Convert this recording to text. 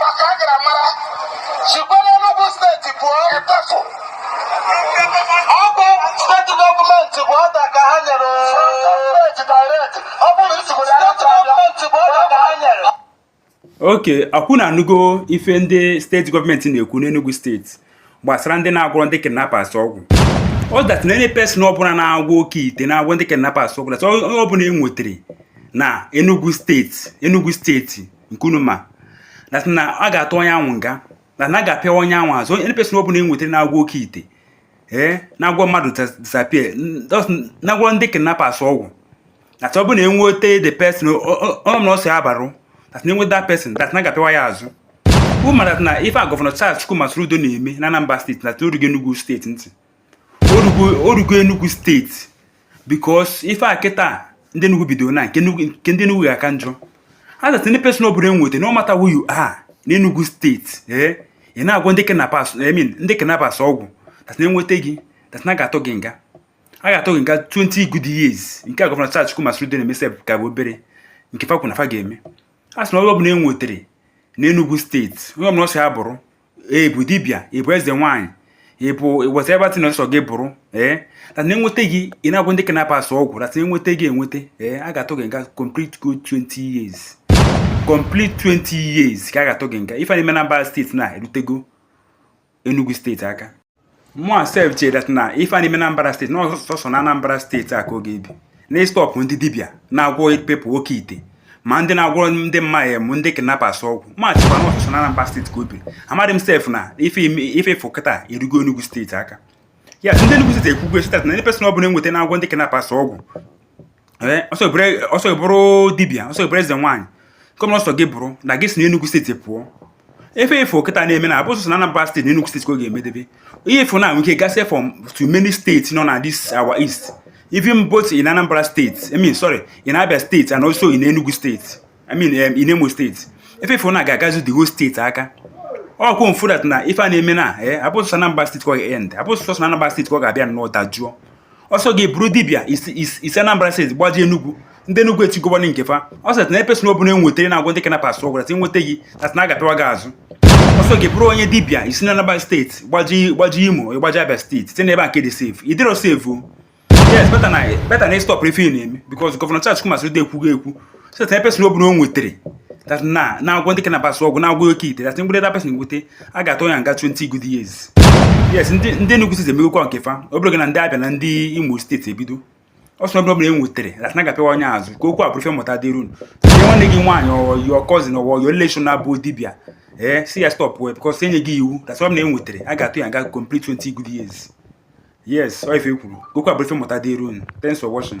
maka a gara mara sikwa n'Enugu steeti pụọ ịtafụ ọ bụ steeti gọọmenti bụ ọda ka ha nyere steeti direct ọ bụrụ isigbo ya steeti gọọmenti bụ ọda ka ha nyere okay ọkwa unu anụgo ife ndị steeti gọọmenti na-ekwu n'Enugu steeti gbasara ndị na-agwọrọ ndị kidnappers ọgwụ that na any person ọbụla na-agwọ oke ite na-agwọ ndị kidnappers ọgwụ that onye ọbụla e nwetere na Enugu steeti Enugu steeti nke unu ma na na a ga-atụ onye ahụ nga na na a ga-apịa onye ahụ azụ any person ọ bụla e nwetara na-agwọ oke ite ee na-agwọ mmadụ disappear na-agwọ ndị kidnappers ọgwụ na ọ bụla e nweta the person ọ na ọsọ ya bụrụ na e nweta that person that na a ga-apịwa ya azụ unu ma na ife a gọvanọ Charles Chukwuma Soludo na-eme na Anambra steeti na o rugo Enugu steeti ntị o rugo Enugu steeti because ife a kịta ndị Enugu bidoro na nke ndị Enugu ga-aka njọ a sị any person ọ bụla e nweta no matter who you are na Enugu steeti ee eh, ị na-agwọ ndị kidnappers I mean ndị kidnappers ọgwụ fa sị na e nweta gị fa sị na a ga-atụ gị nga a ga-atụ gị nga 20 good years nke a gọvanọ Charles Chukwuma Soludo na-eme sef ka bụ obere nke fa kwu na fa ga-eme a sị na onye ọbụla e nwetara na Enugu steeti onye ọbụla ọsọ ya bụrụ ị bụ dibịa ị bụ eze nwaanyị ị bụ whatever that na ọsọ gị bụrụ ee na e nweta gị ị na-agwọ ndị kidnappers ọgwụ na e nweta gị enweta ee a ga-atụ gị nga complete good 20 years complete 20 years ka a ga-atụ gị nga ife na-eme na Anambra steeti na erutego Enugu steeti aka mụa sef chere that na ife na-eme na Anambra steeti na sọsọ na Anambra steeti a ka ọ ga-ebi na ịstọpụ ndị dibịa na-agwọ people oke ite ma ndị na-agwọrọ ndị mmadụ m ndị kidnappers ọgwụ m echekwa na ọ sọsọ na Anambra steeti ka o biri amadị m sef na ife afụ kịta erugo Enugu steeti aka ya ndị Enugu steeti ekwugo say that na any person ọbụla e nweta na-agwọ ndị kidnappers ọgwụ eh, ọsọ bụrụ dibịa ọsọ bụrụ eze nwaanyị kọmna ọsọ gị bụrụ na ị ga-esi n'Enugu steeti pụọ ife afụ kịta na-eme na abụ sọsọ na Anambra steeti na Enugu steeti ka ọ ga-emedebe ife afụ na-enwe ike gasịa from to many steeti nọ na this our east even both in Anambra steeti I mean sorry in Abia steeti and also in Enugu steeti I mean um, in Imo steeti ife afụ na ọ ga-agazu the whole steeti aka ọkwa unu fụ that na ife a na-eme na eh, abụ sọsọ Anambra steeti ka ọ ga-end abụ sọsọ Anambra steeti ka ọ ga-abịa nnọọ dajụọ ọsọ gị bụrụ dibịa i si Anambra steeti gbajee Enugu ndị Enugu etigobana nke fa ọ sịrị any person ọbụla e nwetara na-agwọ ndị kidnappers ọgwụ a sị e nweta gị that na a ga-apịwa gị azụ ọsọ gị bụrụ onye dibịa i si na Anambra steeti gbajee Imo ị gbajee Abia steeti site n'ebe a nke dị safe ị dịrọ safe yes better na better na stop ife ị na-eme because gọvanọ Charles Chukwuma Soludo ekwugo ekwu say that person ọ bụla o nwetere that na na-agwọ ndị kidnappers ọgwụ na-agwọ oke ite that e nwete that person enwete a ga-atụ ya nga 20 good years yes ndị ndị Enugu steeti emegokwa nke fa ọ bụrụ gị na ndị Abia na ndị Imo steeti ebido person ọbụla ọbụla e nwetere that na a ga-apịwa onye azụ ka okwu a bụrụ ife mmụta dịrị unu nwanne gị nwaanyị or your cousin or or your relation na-abụ dibịa ee eh, sị ya stop wee because enye gị iwu that's why m na-enwetere a ga-atụ ya nga complete 20 good years yes ọ ife e kwuru ka okwu a bụrụ ife mmụta dịrị unu thanks for watching